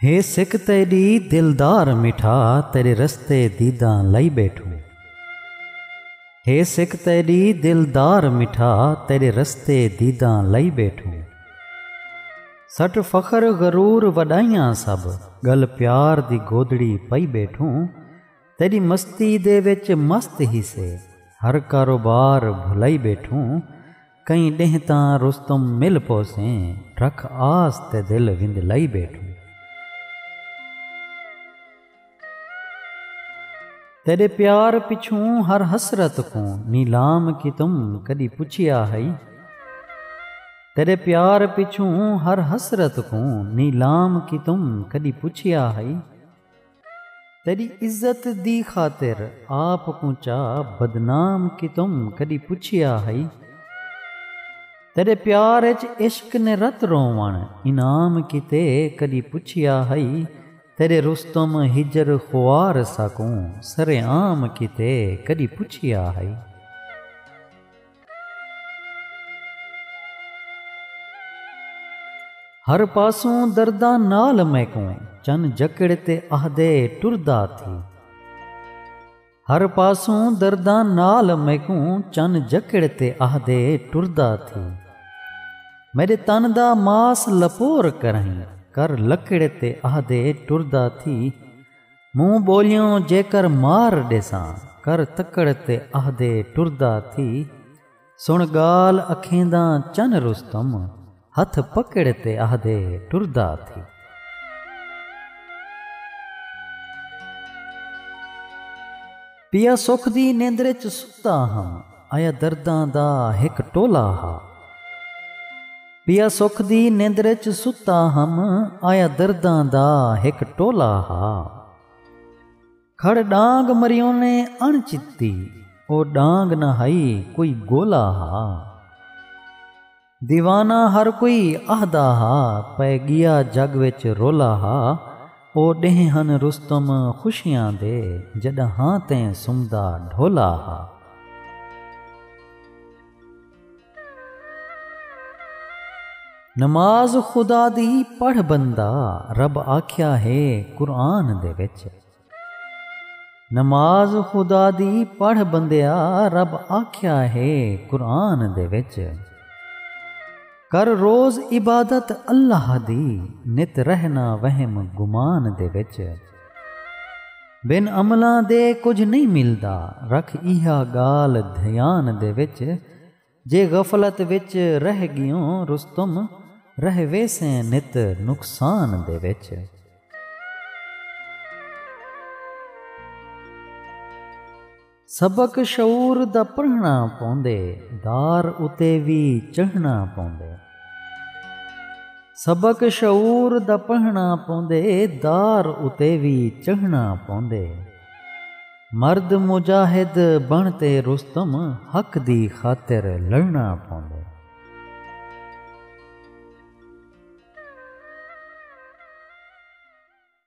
ہے سکھ تیڈی دلدار مٹھا تیرے رستے دیداں لئی بیٹھو ہے سکھ تیڈی دلدار مٹھا تیرے رستے دیداں لئی بیٹھو سٹ فخر غرور وڈائیاں سب گل پیار دی گودڑی پئی بیٹھو تیری مستی دے وچ مست ہی سے ہر کاروبار بھلائی بیٹھو کئیں ݙینہہ تاں رستم مل پوسیں رکھ آس تے دل وندلائی ٻیٹھوں۔ تیݙے پیار پچھوں ہر حسرت کوں نیلام کیتم کݙی پچھیا ہئی تیݙے پیار پچھوں ہر حسرت کوں نیلام کیتم کݙی پچھیا ہئی۔ تیݙی عزت دی خاطر آپ کوں چا بدنام کیتم کݙی پچھیا ہئی تیݙے پیار اچ عشق نے رت رووݨ انعام کیتے کݙی پچھیا ہئی تیݙے رستم ہجر خوار ساکوں سرعام کیتے کݙی پچھیا ہئی۔ ہر پاسوں درداں نال میکوں چن جکڑ تے آہدے ٹردا تھی ہر پاسوں درداں نال میکوں چن جکڑ تے آہدے ٹردا تھی میرے تن دا ماس لپور کرہیں کر لکڑ تے آہدے ٹردا تھی موں ٻولیوں جیکر مار ݙیساں کر تکڑ تے اہدے ٹردا تھی سݨ ڳالھ اکھینداں چن رستم ہتھ پکڑ تے اہدے ٹردا تھی۔ پیا سکھ دی نیندر اچ ستا ہاں آیا درداں دا ہک ٹولا ہا۔ پیا سکھ دی نیندر اچ ستا ہم آیا درداں دا ہک ٹولا ہا۔ کھڑ ڈانگ مریونے اݨ چتی او ڈانگ نہ ہئی کوئی گولا ہا۔ دیوانہ ہر کوئی اہدا ہا پئے گیا جگ وچ رولا ہا او ڈینہہ ہن رستم خوشیاں دے جڈاں ہاں تیں سمدا ڈھولا ہا۔ نماز خدا دی پڑھ بندہ رب آکھیا ہے قرآن دے وچ نماز خدا دی پڑھ بندیا رب آکھیا ہے قرآن دے وچ۔ کر روز عبادت اللہ دی نت رہ نہ وہم گمان دے وچ۔ بن عملاں دے کجھ نئیں ملدا رکھ ایہا گالھ دھیان دے وچ۔ جے غفلت وچ رہ ڳیوں رستم رہ ویسیں نت نقصان دے وچ۔ سبق شعور دا پڑھݨا پوندے دار اتے وی چڑھݨا پوندے۔ سبق شعور دا پڑھݨا پوندے دار اتے وی چڑھݨا پوندے۔ مرد مجاہد بݨ تے رستم حق دی خاطر لڑݨا پوندے۔